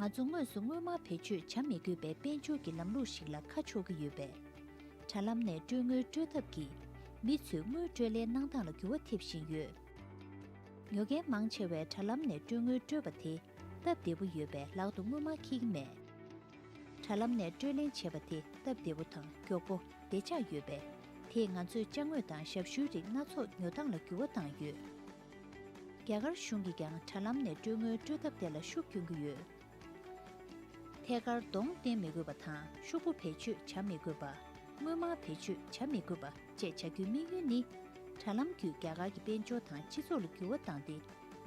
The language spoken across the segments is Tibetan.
ང་ཚོ་དངོས་སུ་སྔོན་མ་བེད་སྤྱོད་བྱ་མི་དགོས་པའི་དཔལ་འབྱོར་གྱི་ལམ་ལུགས་ཤིག་ལ་ཁ་ཕྱོགས་ཀྱི་ཡོད་པས། དྲ་ལམ་ནས་སྤྲོད་དངུལ་སྤྲོད་ཐབས་ཀྱིས་མི་ཚོས་དངུལ་སྤྲོད་སླད་གནང་སྟངས་ལ་འགྱུར་བ་ཐེབས་བཞིན་ཡོད། ཉོ་མཁན་མང་ཆེ་བས་དྲ་ལམ་ནས་སྤྲོད་དངུལ་སྤྲོད་པ་དེ་སྟབས་བདེ་པོ་ཡོད་པས་ལག་ཏུ་དངུལ་མ་འཁྱིལ་གྱི་མེད། དྲ་ལམ་ནས་སྤྲོད་ལེན་བྱེད་པ་དེ་སྟབས་བདེ་པོ་དང་མགྱོགས་པོ་བདེ་ཆགས་ཡོད་པས་དེས་ང་ཚོས་དཔྱ་དངོས་དང་ཞབས་ཞུའི་རིགས་སྣ་ཚོགས་ཉོ་སྟངས་ལ་འགྱུར་བ་བཏང་ཡོད། རྒྱ་གར་གཞུང་གིས་ཀྱང་དྲ་ལམ་ནས་སྤྲོད་དངུལ་སྤྲོད་ཐབས་དེ་ལ་ཤུགས་སྐྱོན་གྱི་ཡོད། ཐད་ཀར་གདོང་བསྟན་མི་དགོས་པ་དང་ཤུགས་པོ་བེད་སྤྱོད་བྱ་མི་དགོས་པ། དངོས་མང་བེད་སྤྱོད་བྱ་མི་དགོས་པ་བཅས་བྱ་རྒྱུའི་དམིགས་ཡུལ་ནི། དྲ་ལམ་བརྒྱུད་རྒྱ་གར་གྱི་དཔལ་འབྱོར་དང་སྤྱི་ཚོགས་ལ་འགྱུར་བ་བཏང་སྟེ་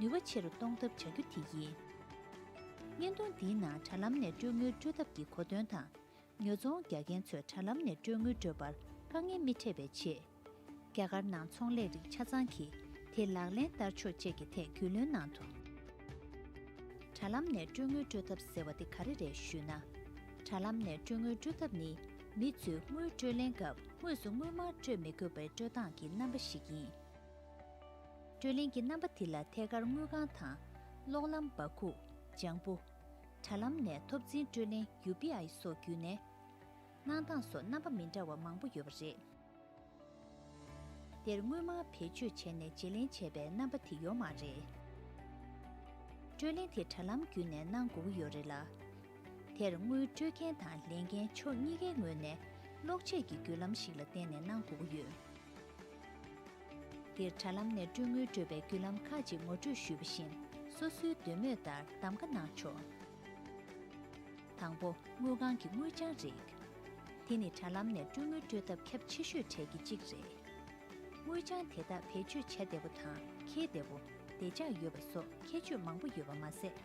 ནུས་པ་ཆེ་རུ་གཏོང་ཐབས་བྱ་རྒྱུ་དེ་ཡིན། བརྙན་ཐུང་འདིའི་ནང་དྲ་ལམ་ནས་སྤྲོད་དངུལ་སྤྲོད་ཐབས་ཀྱི་གོ་དོན་དང། ཉོ་ཚོང་རྒྱག་མཁན་ཚོས་དྲ་ལམ་ནས་སྤྲོད་དངུལ་སྤྲོད་པར་དཀའ་ངལ་མི་འཕྲད་པའི་ཆེད། རྒྱ་གར་ནང་ཚོང་ལས་རིགས་ཆ་ཚང་གིས་དེ་ལག་ལེན་བསྟར་ཕྱོགས་བཅས་ཀྱི་ཐད་རྒྱུས་ལོན་གནང་འདུག། དྲ་ལམ་ནས་སྤྲོད་དངུལ་སྤྲོད་ཐབས་ཟེར་བ་དེ་ག་རེ་རེད་ཞུས་ན། དྲ་ལམ་ནས་སྤྲོད་དངུལ་སྤྲོད་ཐབས་ནི་མི་ཚོས་དངུལ་སྤྲོད་ལེན་སྐབས་དངོས་སུ་དངུལ་མང་སྤྲོད་མི་དགོས་པའི་སྤྲོད་སྟངས་ཀྱི་རྣམ་པ་ཞིག་ཡིན། སྤྲོད་ལེན་གྱི་རྣམ་པ་དེ་ལ་ཐད་ཀར་དངུལ་ཁང་དང། གློག་ལམ་འབག་ཁུག། ལྗང་བུ། དྲ་ལམ་ནས་ཐོབ་འཛིན་སྤྲོད་ལེན UPI སོགས་བརྒྱུད་ནས། གནང་སྟངས་སོགས་རྣམ་པ་མི་འདྲ་བ་མང་པོ་ཡོད་པ་རེད། དེར་དངོས་མང་བེད་སྤྱོད་བྱས་ནས་བརྗེ་ལེན་བྱས་པའི་རྣམ་པ་དེ་ཡོད་མ་རེད། སྤྲོད་ལེན་དེ་དྲ་ལམ་བརྒྱུད་ནས་གནང་དགོས་ཀྱི་ཡོད་རེད་ལ། དེར་དངུལ་སྤྲོད་མཁན་དང་ལེན་མཁན་ཕྱོགས་གཉིས་ཀའི་ངོས་ནས་གློག་ཆས་ཀྱི་བརྒྱུད་ལམ་ཞིག་ལ་བརྟེན་ནས་གནང་དགོས་ཀྱི་ཡོད། འདིར་དྲ་ལམ་ནས་སྤྲོད་དངུལ་སྤྲོད་པའི་བརྒྱུད་ལམ་ཁག་ཅིག་ངོ་སྤྲོད་ཞུས་པ་བཞིན་སོ་སོའི་འདོད་མོས་ལྟར་གདམ་ག་གནང་ཆོག། དང་པོ། དངུལ་ཁང་གི་དངུལ་བྱང་རིགས། དེ་ནི་དྲ་ལམ་ནས་སྤྲོད་དངུལ་སྤྲོད་ཐབས་ཁྱབ་ཆེ་ཤོས་གྲས་ཀྱི་གཅིག་རེད། དངུལ་བྱང་དེ་དག་བེད་སྤྱོད་བྱ་བདེ་བོ་དང་འཁྱེར་བདེ་བོ། བདེ་འཇགས་ཡོད་པ་སོགས་ཁྱད་ཆོས་མང་པོ་ཡོད་པ་མ་ཟད།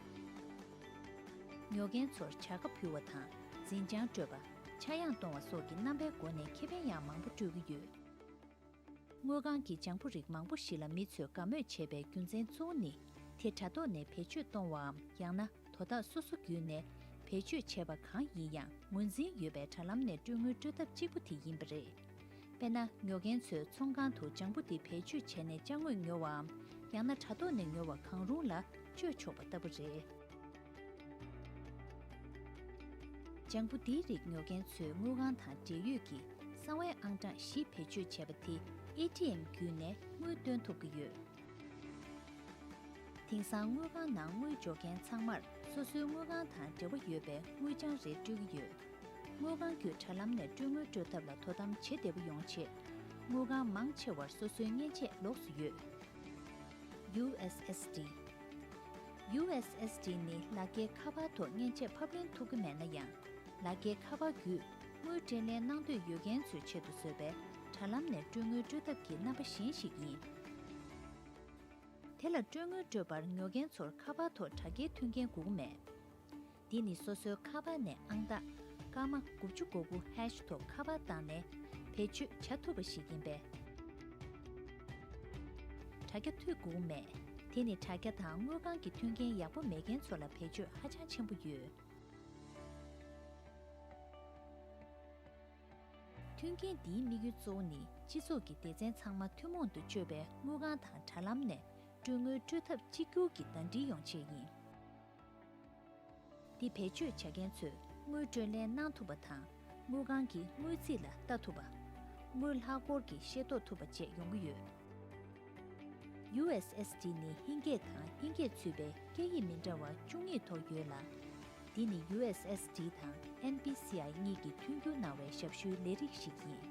ཉོ་མཁན་ཚོར་བྱ་དགའ་ཕུལ་བ་དང་འཛིན་བྱང་སྤྲོད་པ། ཆག་ཡང་གཏོང་བ་སོགས་ཀྱི་རྣམ་པའི་སྒོ་ནས་ཁེ་ཕན་ཡང་མང་པོ་སྤྲོད་ཀྱི་ཡོད། དངུལ་ཁང་གིས་ལྗང་བུ་རིགས་མང་པོ་ཞིག་ལ་མི་ཚོས་དགའ་མོས་བྱེད་པའི་རྒྱུ་མཚན་གཙོ་བོ་ནི་དེ་དྲ་ཐོག་ནས་བེད་སྤྱོད་གཏོང་བའམ་ཡང་ན་དོ་བདག་སོ་སོ་བརྒྱུད་ནས་བེད་སྤྱོད་བྱས་པ་གང་ཡིན་ཡང་ངོས་འཛིན་ཡོད་པའི་དྲ་ལམ་ནས་སྤྲོད་དངུལ་སྤྲོད་ཐབས་གཅིག་པུ་དེ་ཡིན་པ་རེད། དཔེར་ན་ཉོ་མཁན་ཚོས་ཚོང་ཁང་དུ་ལྗང་བུ་འདི་བེད་སྤྱོད་བྱས་ནས་དཔྱ་དངོས་ཉོ་བའམ་ཡང་ན་དྲ་ཐོག་ནས་ཉོ་བ་གང་རུང་ལ་སྤྱོད་ཆོག་པ་ལྟ་བུ་རེད། ལྗང་བུ་འདིའི་རིགས་ཉོ་མཁན་ཚོས་དངུལ་ཁང་དང་འབྲེལ་ཡོད་ཀྱི་གསང་བའི་ཨང་གྲངས་བཞི་བེད་སྤྱོད་བྱས་པ་དེ ATM བརྒྱུད་ནས་དངུལ་བཏོན་ཐུབ་ཀྱི་ཡོད། དེང་སང་དངུལ་ཁང་ནང་དངུལ་འཇོག་མཁན་ཚང་མར་སོ་སོའི་དངུལ་ཁང་དང་འབྲེལ་བ་ཡོད་པའི་དངུལ་བྱང་རེ་སྤྲོད་ཀྱི་ཡོད། དངུལ་ཁང་བརྒྱུད་དྲ་ལམ་ནས་སྤྲོད་དངུལ་སྤྲོད་ཐབས་ལ་དོ་དམ་བྱེད་བདེ་པོ་ཡོང་ཆེད། དངུལ་ཁང་མང་ཆེ་བར་སོ་སོའི་མཉེན་ཆས་ལོགས་སུ་ཡོད། USSD། USSD ནི་ལ་རྒྱའི་ཁ་པར་ཐོག་མཉེན་ཆས་ཕབ་ལེན་ཐུབ་ཀྱི་མེད་ན་ཡང། ལ་རྒྱའི་ཁ་པར་བརྒྱུད་དངུལ་སྤྲེད་ལེན་གནང་འདོད་ཡོད་མཁན་ཚོའི་ཆེད་དུ་བཟོས་པའི་དྲ་ལམ་ནས་སྤྲོད་དངུལ་སྤྲོད་ཐབས་ཀྱི་རྣམ་པ་གཞན་ཞིག་ཡིན། དེ་ལ་སྤྲོད་དངུལ་སྤྲོད་པར་ཉོ་མཁན་ཚོར་ཁ་པར་ཐོག་དྲ་རྒྱའི་མཐུན་རྐྱེན་དགོས་ཀྱི་མེད། འདི་ནི་སོ་སོའི་ཁ་པར་ནས་ཨང་རྟགས་སྐར་མ་དགུ་བཅུ་གོ་དགུ་ཧེཤ་ཐོག་ཁ་པར་བཏང་ནས་བེད་སྤྱོད་བྱ་ཐུབ་པ་ཞིག་ཡིན་པས། དྲ་རྒྱ་ཐོད་བསྒུགས་མེད། དེ་ནི་དྲ་རྒྱ་དང་དངུལ་ཁང་གི་མཐུན་རྐྱེན་ཡག་པོ་མེད་མཁན་ཚོ་ལ་བེད་སྤྱོད་ཧ་ཅང་ཆེན་པོ་ཡོད། མཐུན་རྐྱེན་འདིའི་དམིགས་ཡུལ་གཙོ་བོ་ནི་སྤྱི་ཚོགས་ཀྱི་སྡེ་ཚན་ཚང་མ་ཐུན་མོང་དུ་སྤྱོད་པའི་དངུལ་ཁང་དང་དྲ་ལམ་ནས་སྤྲོད་དངུལ་སྤྲོད་ཐབས་གཅིག་གྱུར་གྱིས་ཟླ་འདྲིལ་ཡོང་ཆེད་ཡིན། འདི་བེད་སྤྱོད་བྱ་མཁན་ཚོས་དངུལ་སྤྲོད་ལེན་གནང་ཐུབ་པ་དང། དངུལ་ཁང་གི་དངུལ་རྩིས་ལ་ལྟ་ཐུབ་པ། དངུལ་ལྷག་སྐོར་གྱི་ཤེས་རྟོགས་ཐུབ་པ་བཅས་ཡོང་གི་ཡོད། USSD ནི་ཧིན་སྐད་དང་ཧིན་སྐད་ཚུད་པའི་སྐད་ཡིག་མི་འདྲ་བ་བཅུ་གཉིས་ཐོག་ཡོད་ལ། འདི་ནི USSD དང NPCI གཉིས་ཀྱིས་མཐུན་འགྱུར་གནང་བའི་ཞབས་ཞུའི་ལས་རིགས་ཤིག་ཡིན།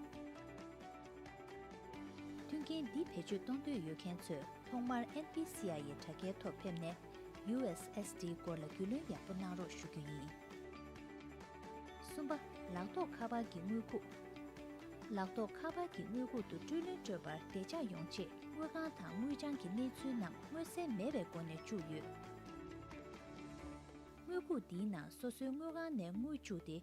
མཐུན་རྐྱེན་འདི་བེད་སྤྱོད་གཏོང་འདོད་ཡོད་མཁན་ཚོས་ཐོག་མར NPCI ཡི་དྲ་རྒྱའི་ཐོག་ཕེབས་ནས། USSD སྐོར་ལ་རྒྱུས་ལོན་ཡག་པོ་གནང་རོགས་ཞུ་རྒྱུ་ཡིན། གསུམ་པ། ལག་ཐོགས་ཁ་པར་གྱི་དངུལ་ཁུག། ལག་ཐོགས་ཁ་པར་གྱི་དངུལ་ཁུག་ཏུ་སྤྲོད་ལོན་སྤྲོད་པར་བདེ་འཇགས་ཡོང་ཆེད་དངུལ་ཁང་དང་དངུལ་བྱང་གི་གནས་ཚུལ་རྣམས་མངོན་གསལ་མེད་པའི་སྒོ་ནས་བཅུག་ཡོད། དངུལ་ཁུག་འདིའི་ནང་སོ་སོའི་དངུལ་ཁང་ནས་དངུལ་བཅུག་སྟེ།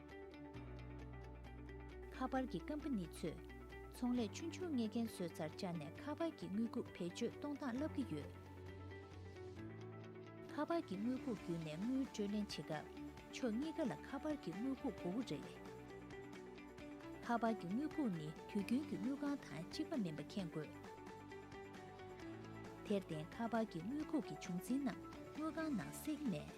ཁ་པར་གྱི་ཀམ་པ་ནི་ཚོས་ཚོང་ལས་ཆུང་ཆུང་ལྔས་རྒན་གསོའི་རྩར་བཅར་ནས་ཁ་པར་གྱི་དངུལ་ཁུག་བེད་སྤྱོད་གཏོང་སྟངས་བསླབ་ཀྱི་ཡོད། ཁ་པར་གྱི་དངུལ་ཁུག་བརྒྱུད་ནས་དངུལ་སྤྲོད་ལེན་བྱེད་སྐབས་ཕྱོགས་གཉིས་ཀ་ལ་ཁ་པར་གྱི་དངུལ་ཁུག་མགོ་བོ་རེད། ཁ་པར་གྱི་དངུལ་ཁུག་ནི་དུས་རྒྱུན་གྱི་དངུལ་ཁང་དང་གཅིག་པ་མིན་པ་མཁྱེན་དགོས། དེར་བརྟེན་ཁ་པར་གྱི་དངུལ་ཁུག་གི་བྱུང་འཛིན་རྣམས་དངུལ་ཁང་ནང་བསྲེགས་ནས།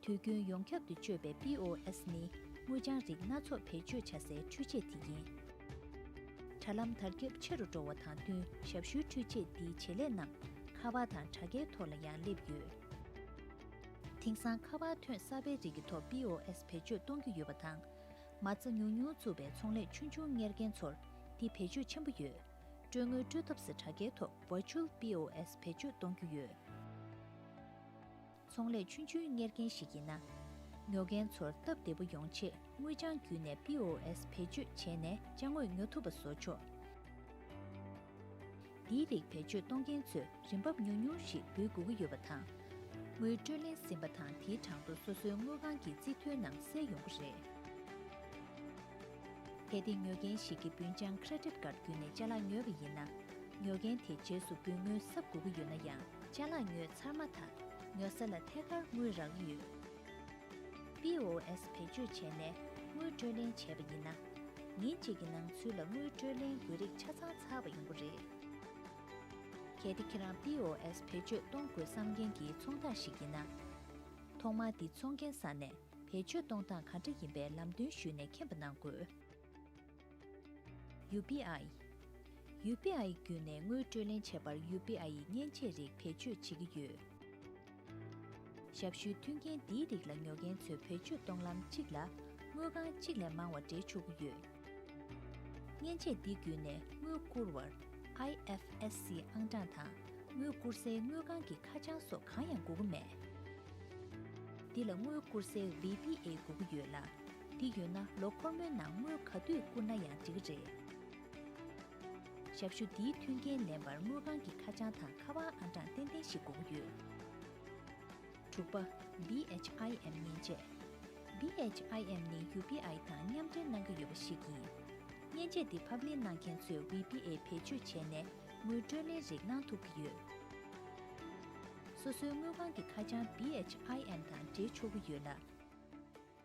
དུས་རྒྱུན་ཡོངས་ཁྱབ་ཏུ་སྤྱོད་པའི POS ནི་དངུལ་བྱང་རིགས་སྣ་ཚོགས་བེད་སྤྱོད་བྱ་སའི་འཕྲུལ་ཆས་དེ་ཡིན། དྲ་ལམ་དར་ཁྱབ་ཆེ་རུ་འགྲོ་བ་དང་བསྟུན་ཞབས་ཞུའི་འཕྲུལ་ཆས་འདིའི་བྱེད་ལས་རྣམས་ཁ་བ་དང་དྲ་རྒྱའི་ཐོག་ལ་ཡང་སླེབས་ཡོད། དེང་སང་ཁ་བ་ཐོན་གསར་པའི་རིགས་ཀྱི་ཐོག POS བེད་སྤྱོད་གཏོང་གི་ཡོད་པ་དང། མ་རྩ་ཉུང་ཉུང་བཙུགས་པའི་ཚོང་ལས་ཆུང་ཆུང་གཉེར་མཁན་ཚོར་འདི་བེད་སྤྱོད་ཆེན་པོ་ཡོད། སྤྲོད་དངུལ་སྤྲོད་ཐབས་སུ་དྲ་རྒྱའི་ཐོག Virtual POS བེད་སྤྱོད་གཏོང་རྒྱུ་ཡོད། ཚོང་ལས་ཆུང་ཆུང་གཉེར་མཁན་ཞིག་ཡིན་ན། ཉོ་མཁན་ཚོར་སྟབས་བདེ་པོ་ཡོང་ཆེད་དངུལ་བྱང་བརྒྱུད་ནས POS བེད་སྤྱོད་བྱས་ནས་བྱ་དངོས་ཉོ་ཐུབ་པ་བཟོ་ཆོག། འདིའི་རིགས་བེད་སྤྱོད་གཏོང་མཁན་ཚོས་རིན་འབབ་ཉུང་ཉུང་ཞིག་འབུལ་དགོས་ཀྱི་ཡོད་པ་དང། དངུལ་སྤྲོད་ལེན་ཟིན་པ་དང་དེའི་གྲངས་ཐོ་སོ་སོའི་དངུལ་ཁང་གི་རྩིས་ཐོའི་ནང་གསལ་ཡོང་གི་རེད། གལ་ཏེ་ཉོ་མཁན་ཞིག་གིས་འབུལ་བྱང Credit Card བརྒྱུད་ནས་བཅའ་ལག་ཉོས་པ་ཡིན་ན། ཉོ་མཁན་དེས་རྗེས་སུ་འབུལ་དངུལ་གསབ་དགོས་ཀྱི་ཡོད་ན་ཡང། ལྕགས་ལ་ཉོས་ཚར་མ་ཐག་ཉོ་ས་ལ་ཐད་ཀར་དངུལ་རག་གི་ཡོད། POS བེད་སྤྱོད་བྱས་ནས་དངུལ་སྤྲོད་ལེན་བྱས་པ་ཡིན་ན། ཉིན་གཅིག་གི་ནང་ཚུན་ལ་དངུལ་སྤྲོད་ལེན་དགོས་རིགས་ཆ་ཚང་ཚར་བ་ཡིན་པོ་རེད། གལ་ཏེ་ཁྱེད་རང POS བེད་སྤྱོད་གཏོང་དགོས་བསམ་མཁན་གྱི་ཚོང་བདག་ཞིག་ཡིན་ན། ཐོག་མར་འདི་ཚོང་མཁན་ས་ནས་བེད་སྤྱོད་གཏོང་སྟངས་ག་འདྲ་ཡིན་པའི་ལམ་སྟོན་ཞུས་ནས་མཁྱེན་པ་གནང་དགོས། UBI། UBI བརྒྱུད་ནས་དངུལ་སྤྲོད་ལེན་བྱེད་པར UBI ཡི་མཉེན་ཆས་རིགས་བེད་སྤྱོད་བྱེད་ཀྱི་ཡོད། ཞབས་ཞུའི་མཐུན་རྐྱེན་འདིའི་རིགས་ལ་ཉོ་མཁན་ཚོས་བེད་སྤྱོད་གཏོང་ལམ་གཅིག་ལ་དངུལ་ཁང་གཅིག་ལས་མང་བ་སྦྲེལ་ཆོག་གི་ཡོད། མཉེན་ཆས་འདི་བརྒྱུད་ནས་དངུལ་བསྐུར་བར IFSC ཨང་གྲངས་དང་དངུལ་བསྐུར་སའི་དངུལ་ཁང་གི་ཁ་བྱང་སོགས་གང་ཡང་དགོས་མཁོ་མེད། འདི་ལ་དངུལ་བསྐུར་སའི VBA དགོས་ཀྱི་ཡོད་ལ། འདི་ཡོད་ན་ལོ་འཁོར་མོའི་ནང་དངུལ་ག་དུས་བསྐུར་ན་ཡང་འགྲིག་གི་རེད། ཞབས་ཞུ་འདིའི་མཐུན་རྐྱེན་ལེན་པར་དངུལ་ཁང་གི་ཁ་བྱང་དང་ཁ་པར་ཨང་གྲངས་ཏན་ཏན་ཞིག་དགོངས་ཡོད། དྲུག་པ། BHIM མཉེན་ཆས། BHIM ནི UBI དང་མཉམ་འབྲེལ་གནང་གི་ཡོད་པ་ཞིག་ཡིན། མཉེན་ཆས་འདི་ཕབ་ལེན་གནང་མཁན་ཚོས VBA བེད་སྤྱོད་བྱས་ནས་དངུལ་སྤྲོད་ལེན་རིགས་གནང་ཐུབ་ཀྱི་ཡོད། སོ་སོའི་དངུལ་ཁང་གི་ཁ་བྱང BHIM དང་འབྲེལ་ཆོག་གི་ཡོད་ལ།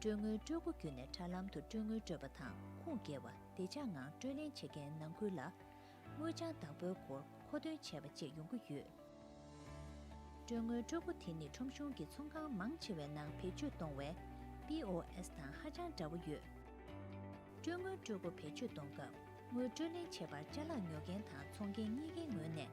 སྤྲོད་དངུལ་སྤྲོད་སྒོ་བརྒྱུད་ནས་དྲ་ལམ་དུ་སྤྲོད་དངུལ་སྤྲོད་པ་དང་ཁུངས་སྐྱེལ་བ་བདེ་འཇགས་ངང་སྤྲོད་ལེན་བྱེད་མཁན་ནང་ཁུལ་ལ། དངུལ་བྱང་བདག་པོའི་སྐོར་མཁོ་འདོན་བྱས་པ་བཅས་ཡོང་གི་ཡོད། སྤྲོད་དངུལ་སྤྲོད་སྒོ་དེ་ནི་ཁྲོམ་གཞུང་གི་ཚོང་ཁང་མང་ཆེ་བའི་ནང་བེད་སྤྱོད་གཏོང་བའི། POS། དང་ཧ་ཅང་འདྲ་བོ་ཡོད། སྤྲོད་དངུལ་སྤྲོད་སྒོ་བེད་སྤྱོད་གཏོང་སྐབས་དངུལ་སྤྲོད་ལེན་བྱེད་པར་བཅའ་ལག་ཉོ་མཁན་དང་འཚོང་མཁན་གཉིས་ཀའི་ངོས་ནས་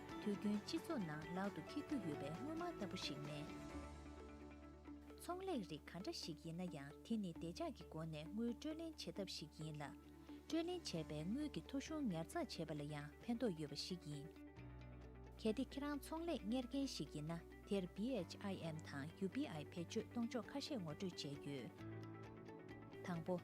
དུས་རྒྱུན་སྤྱི་ཚོགས་ནང་ལག་ཏུ་འཁྱེར་རྒྱུ་ཡོད་པའི་དངོས་མང་ལྟ་བུ་ཞིག་མིན། ཚོང་ལས་རིགས་ག་འདྲ་ཞིག་ཡིན་ན་ཡང་དེ་ནི་བདེ་འཇགས་ཀྱི་སྒོ་ནས་དངུལ་སྤྲོད་ལེན་བྱེད་ཐབས་ཤིག་ཡིན་ལ། སྤྲོད་ལེན་བྱས་པའི་དངུལ་གྱི་ཐོ་གཞུང་ཉར་ཚགས་བྱེད་པ་ལ་ཡང་ཕན་ཐོགས་ཡོད་པ་ཞིག་ཡིན། གལ་ཏེ་ཁྱེད་རང་ཚོང་ལས་གཉེར་མཁན་ཞིག་ཡིན་ན་དེར BHIM དང UBI བེད་སྤྱོད་གཏོང་ཕྱོགས་ཁ་ཤས་ངོ་སྤྲོད་བྱས་ཡོད། དང་པོ།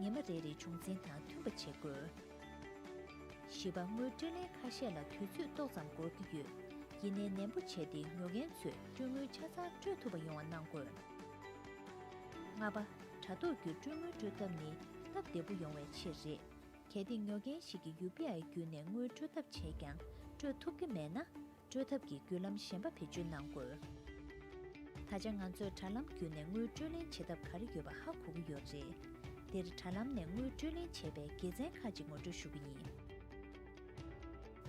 ཉི་མ་རེ་རེའི་བྱུང་འཛིན་དང་མཐུན་པ་བྱེད་དགོས། བཞི་པ་དངུལ་སྤྲོད་ལན་ཁ་ཤས་ལ་དུས་ཚོད་ཏོག་ཙམ་འགོར་གྱི་ཡོད། ཡིན་ནའི་ནན་པོ་བྱས་ཏེ་ཉོ་མཁན་ཚོས་སྤྲོད་དངུལ་ཆ་ཚང་སྤྲོད་ཐུབ་པ་ཡོང་བ་གནང་དགོས། ལྔ་པ། དྲ་ཐོག་བརྒྱུད་སྤྲོད་དངུལ་སྤྲོད་ཐབས་ནི་སྟབས་བདེ་པོ་ཡོང་བའི་ཆེད་རེད། གལ་ཏེ་ཉོ་མཁན་ཞིག་གིས UPI བརྒྱུད་ནས་དངུལ་སྤྲོད་ཐབས་བྱས་ཀྱང་སྤྲོད་ཐུབ་ཀྱི་མེད་ན། སྤྲོད་ཐབས་ཀྱི་བརྒྱུད་ལམ་གཞན་པ་བེད་སྤྱོད་གནང་དགོས། ད་ཆ་ང་ཚོས་དྲ་ལམ་བརྒྱུད་ནས་དངུལ་སྤྲོད་ལེན་བྱེད་ཐབས་ག་རེ་ཡོད་པ་ཧ་གོ་གི་ཡོད་རེད། འདིར་དྲ་ལམ་ནས་དངུལ་སྤྲོད་ལེན་བྱེད་པའི་དགེ་མཚན་ཁག་ཅིག་ངོ་སྤྲོད་ཞུ་གི་ཡིན།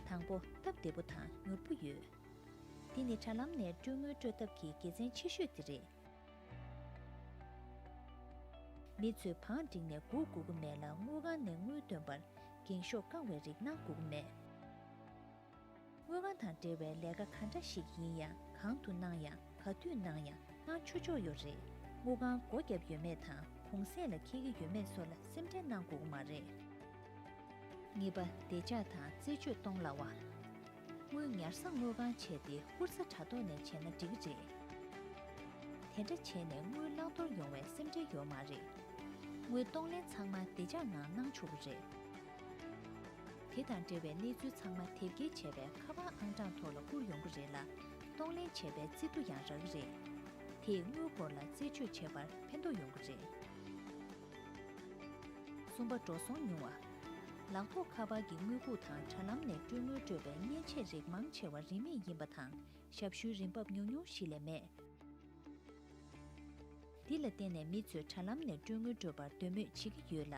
དང་པོ། སྟབས་བདེ་པོ་དང་མྱུར་པོ་ཡོད། འདི་ནི་དྲ་ལམ་ནས་སྤྲོད་དངུལ་སྤྲོད་ཐབས་ཀྱི་དགེ་མཚན་ཆེ་ཤོས་དེ་རེད། མི་ཚོས་བང་བསྒྲིགས་ནས་སྒུག་དགོས་ཀྱི་མེད་ལ་དངུལ་ཁང་ནས་དངུལ་འདོན་པར་འགེངས་ཤོག་བཀང་བའི་རིགས་གནང་དགོས་ཀྱི་མེད། དངོས་དབང་དང་འབྲེལ་བའི་ལས་ཀ་ག་འདྲ་ཞིག་ཡིན་ཡང་གང་དུ་གནང་ཡང་ག་དུས་གནང་ཡང་གནང་ཆོ་ཆོག་ཡོད་རེད། དངུལ་ཁང་སྒོ་བརྒྱབ་ཡོད་མེད་དང་གུང་གསེང་ལ་འཁེལ་གྱི་ཡོད་མེད་སོགས་ལ་སེམས་ཁྲལ་གནང་དགོས་ཀྱི་མ་རེད། གཉིས་པ་བདེ་འཇགས་དང་རྩད་གཅོད་གཏོང་སླ་བ། དངུལ་ཉར་ས་དངུལ་ཁང་བྱས་ཏེ་བསྐུར་ས་དྲ་ཐོག་ནས་བྱས་ན་འགྲིག་གི་རེད། དེ་འདྲ་བྱས་ནས་དངུལ་བླང་དོར་ཡོང་བའི་སེམས་ཁྲལ་ཡོད་མ་རེད། དངུལ་གཏོང་ལེན་ཚང་མ་བདེ་འཇགས་ངང་གནང་ཆོག་གི་རེད། དེ་དང་འབྲེལ་བའི་གནས་ཚུལ་ཚང་མ་དེབ་སྐྱེལ་བྱས་པའི་ཁ་པར་ཨང་གྲངས་ཐོག་ལ་བསྐུར་ཡོང་གི་རེད་ལ། གཏོང་ལེན་བྱས་པའི་རྩིས་འབྲུ་ཡང་རག་གི་རེད། དེས་དངུལ་སྒོར་ལ་རྩད་གཅོད་བྱེད་པར་ཕན་ཐོགས་ཡོང་གི་རེད། གསུམ་པ་འགྲོ་སོང་ཉུང་བ། ལག་ཐོག་ཁ་པར་གྱི་དངུལ་ཁུག་དང་དྲ་ལམ་ནས་སྤྲོད་དངུལ་སྤྲོད་པའི་མཉེན་ཆས་རིགས་མང་ཆེ་བ་རིན་མེད་ཡིན་པ་དང་ཞབས་ཞུའི་རིན་འབབ་ཉུང་ཉུང་ཞིག་ལས་མེད། འདི་ལ་བརྟེན་ནས་མི་ཚོས་དྲ་ལམ་ནས་སྤྲོད་དངུལ་སྤྲོད་པར་འདོད་མོས་བྱེད་ཀྱི་ཡོད་ལ།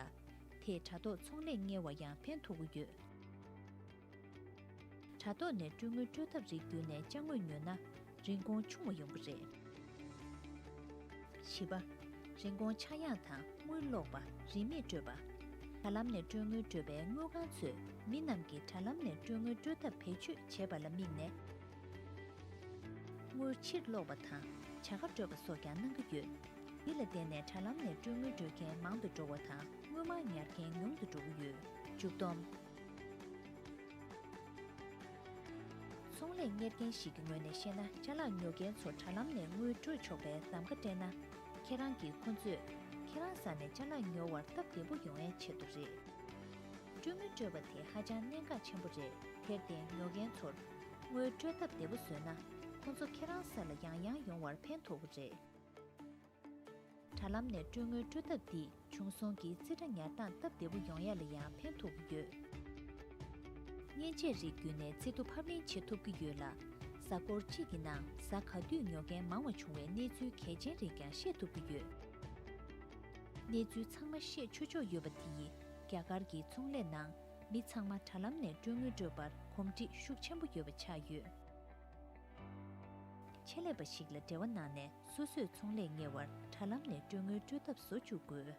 དེས་དྲ་ཐོག་ཚོང་ལས་གཉེར་བར་ཡང་ཕན་ཐོགས་ཀྱི་ཡོད། དྲ་ཐོག་ནས་སྤྲོད་དངུལ་སྤྲོད་ཐབས་རིགས་བསྒྱུར་ནས་དཔྱ་དངུལ་ཉོས་ན། རིན་གོང་ཆུང་བ་ཡོང་གི་རེད། བཞི་པ། རིན་གོང་ཆག་ཡང་དང་དངུལ་ལོག་པ་རིན་མེད་སྤྲོད་པ། དྲ་ལམ་ནས་སྤྲོད་དངུལ་སྤྲོད་པའི་དངུལ་ཁང་ཚོས་མི་རྣམས་ཀྱིས་དྲ་ལམ་ནས་སྤྲོད་དངུལ་སྤྲོད་ཐབས་བེད་སྤྱོད་བྱེད་པ་ལ་དམིགས་ནས། དངུལ་ཕྱིར་སློག་པ་དང་བྱ་དགའ་སྤྲོད་པ་སོགས་ཀྱང་གནང་གི་ཡོད། འདི་ལ་བརྟེན་ནས་དྲ་ལམ་ནས་སྤྲོད་དངུལ་སྤྲོད་མཁན་མང་དུ་འགྲོ་བ་དང་དངུལ་མང་ཉར་མཁན་ཉུང་དུ་འགྲོ་གི་ཡོད། མཇུག་བསྡོམས། ཚོང་ལས་གཉེར་མཁན་ཞིག་གི་ངོས་ནས་བཤད་ན་བཅའ་ལག་ཉོ་མཁན་ཚོ་དྲ་ལམ་ནས་དངུལ་སྤྲོད་ཆོག་པའི་གདམ་ག་སྤྲད་ན། ཁྱེད་རང་གིས་ཁོ་ཚོས་ཁྱེད་རང་ས་ནས་བཅའ་ལག་ཉོ་བར་སྟབས་བདེ་པོ་ཡོང་ཨེ་བྱེད་དོ་རེད། སྤྲོད་དངུལ་སྤྲོད་པ་དེ་ཧ་ཅང་གནད་འགག་ཆེན་པོ་རེད་དེར་བརྟེན་ཉོ་མཁན་ཚོར། དངུལ་སྤྲོད་ཐབས་བདེ་པོ་བཟོས་ན་ཁོང་ཚོ་ཁྱེད་རང་སར་ལ་ཡང་ཡང་ཡོང་བར་ཕན་ཐོགས་པོ་རེད། དྲ་ལམ་ནས་སྤྲོད་དངུལ་སྤྲོད་ཐབས་འདིས་བྱུང་སོང་གི་རྩིས་ཁྲ་ཉར་སྟངས་སྟབས་བདེ་པོ་ཡོང་ཡ་ལ་ཡང་ཕན་ཐོགས་པོ་ཡོད། མཉེན་ཆས་རིགས་བརྒྱུད་ནས་རྩིས་ཐོ་ཕབ་ལེན་བྱེད་ཐུབ་ཀྱི་ཡོད་ལ། གཟའ་འཁོར་གཅིག་གི་ནང་གཟའ་ག་དུས་ཉོ་མཁན་མང་བ་བྱུང་བའི་གནས་ཚུལ་གལ་ཆེན་རིགས་ཀྱང་ཤེས་ཐུབ་ཀྱི་ཡོད། གནས་ཚུལ་ཚང་མ་ཤེས་ཆོས་ཆོག་ཡོད་པ་དེ་ཡིས་རྒྱ་གར་གྱི་ཚོང་ལས་ནང་མི་ཚང་མ་དྲ་ལམ་ནས་སྤྲོད་ངོས་སྤྲོད་པར་གོམས་འདྲིས་ཤུགས་ཆེན་པོ་ཡོད་པ་ཆགས་ཡོད། ཆེད་ལས་པ་ཞིག་ལ་འབྲེལ་བ་གནང་ནས་སོ་སོས་ཚོང་ལས་གཉེར་བར་དྲ་ལམ་ནས་སྤྲོད་ངོས་སྤྲོད་ཐབས་བཟོ་བཅུག་དགོས།